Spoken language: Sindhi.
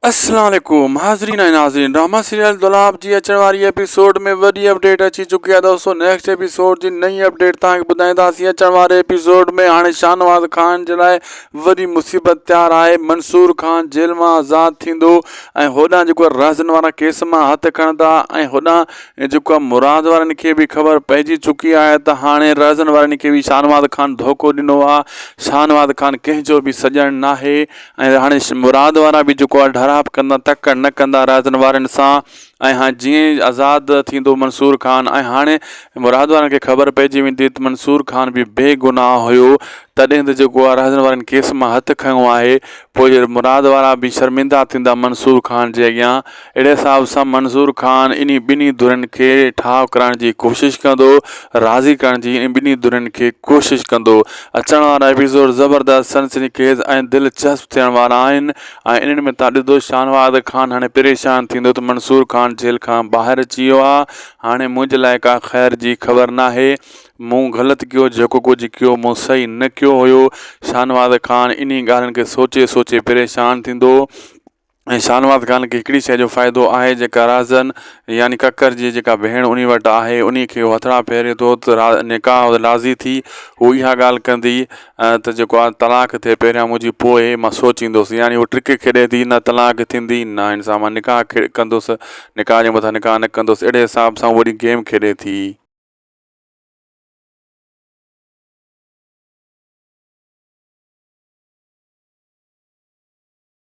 السلام عليڪم حاضرين ۽ ناظرين ڊرامه سيريل دولاب جي اچڻ واري ايپيسوڊ ۾ وڏي اپڊيٽ اچي چڪي آهي دوستو نيڪسٽ ايپيسوڊ جي نئين اپڊيٽ توهان کي ٻڌائينداسين اچڻ واري ايپيسوڊ ۾ هاڻي شاهنواز خان جي لاء وڏي مصيبت تيار آهي منصور خان جيل مان آزاد ٿيندو ۽ هوڏانهن جيڪو رهزن وارا ڪيس مان هٿ کڻندا ۽ هوڏانهن جيڪو آهي مراد وارن کي به خبر پئجي چڪي آهي ته هاڻي رهزن وارن کي به شاهنواز خان ڌوڪو ڏنو آهي شاهنواز خان ڪنهن جو به سڄڻ ناهي ۽ هاڻي مراد وارا به جيڪو آهي ڍراپ ڪندا تڪڙ نه ڪندا راضين وارين سان ۽ هاڻي جيئن آزاد ٿيندو منصور خان ۽ هاڻي مراد وارن کي خبر پئجي ويندي ته منصور خان به بي گناهه هيو تڏهن ته جيڪو آهي راضين وارين ڪيس مان هٿ کنيو آهي پوء مراد وارا به شرمندا ٿيندا منصور خان جي اڳيان اهڙي حساب سان منظور خان انهي ٻنهي ڌرين کي ٺاهه ڪرائڻ جي ڪوشش ڪندو، راضي ڪرڻ جي انهي ٻنهي ڌرين کي ڪوشش ڪندو. اچڻ وارا ايپيسوڊ زبردست، سنسني خيز ۽ دلچسپ ٿيڻ وارا آهن ۽ انهن ۾ توهان ڏسندو شاهنواز خان هاڻي پريشان ٿيندو ته منصور خان جيل کان ٻاهر اچي ويو آ، هاڻي منهنجي لاء ڪا خير جي خبر ناهي، مون غلط ڪيو، جيڪو ڪجهه ڪيو مون صحيح نه ڪيو هيو، شاهنواز خان انهي ڳالهين کي سوچي سوچي پريشان ٿيندو. ۽ شاهنواز خان کي هڪڙي شيء جو فائدو آهي جيڪا رازن يعني ڪڪر جي جيڪا ڀيڻ انهي وٽ آهي انهي کي هو هٿڙا ڦيري ٿو ته را نڪاح لازي ٿي هو اها ڳالهه ڪندي ته جيڪو آ طلاق ٿئي پهريان منهنجي پوء مان سوچيندوس يعني هو ٽرڪ کيڏي ٿي نه طلاق ٿيندي نه هن سان مان نڪاح کي ڪندوس نڪاح جي مٿان نڪاح نه ڪندوس اهڙي حساب سان وڏي گيم کيڏي ٿي.